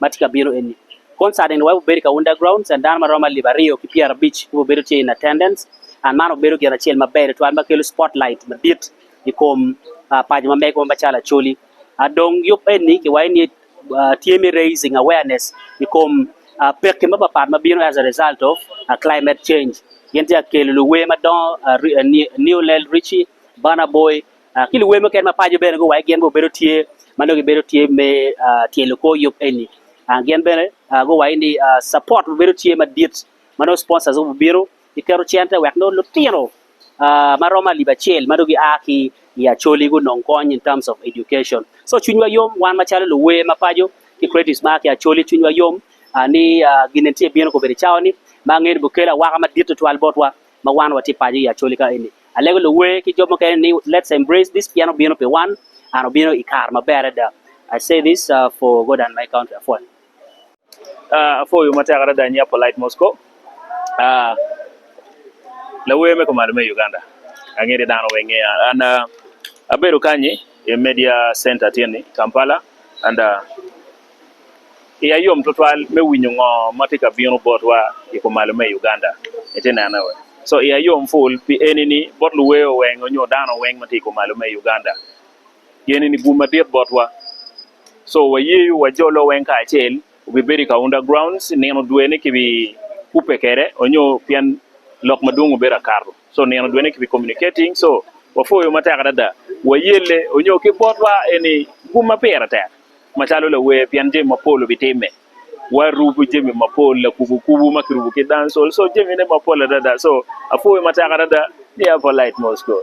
ma tye ka bino eni. Koncert eni weko bedo ka Underground Cen dano ma romo alip aryo ki pyerabic ki obedo tye in attendance and man obedo gin acel maber tutwal ma kelo spotlight madit i kom paco ma mege ma calo Acholi. Dong yub eni ki waco ni tye me raising awareness i kom pekki mapat pat ma bino as a result of climate change. Gin tye ka kelo luwer madongo Newlel Richie, Burna Boy. ki luwer mukene mapaco bene guwaco gin bene bedo tye ma nongo gibedo tye me tyelo kor yub eni. Gin bene guwaco ni support bedo tye madit ma nongo sponsors gubino giketo cente wek nongo lutino ma romo alip acel ma nongo gia ki i Acholi gunong kony in terms of education. So cwinywa yom wan macalo luwer mapaco ki creatives ma a ki Acholi cwinywa yom ni gin eni tye bino kobedo i cawa ni ma angene bukele awaka madit tutwal botwa. ma wan watye paco i Acholi ka eni. Alego luwer ki jo mukene ni let's embrace this pien obino pi wan and obino i kare maber adada. I say this for God and my country apwoyo. Apwoyo matek adada nya polite Mosco lawer me kumalo me Uganda angede dano weng and abedo kanyi i media center tye ni Kampala and Iya yom tutwal me winyo ngo ma tye ka bino botwa i kumalo me Uganda. So iya yom ful pi eni ni bot luweyo weng onyo dano weng ma tye i kumalo me Uganda. Geni ni gum madit botwa. So wayeyo wa jo lo weng kacel obi bedo i Kaunda grounds nino dwe ne ki bi kubbe kede onyo pien lok madwong obedo akato. So nino dwe ne ki bi communicating so wafoyo matek adada. Wayelle onyo ki botwa eni gum ma pire tek. Macalo lawer pien jami mapol obitimme, warubo jami mapol lakubo kubo ma kirubo ki dancehall so jamine mapol adada so apwoyo matek adada ni Apolite Moscow.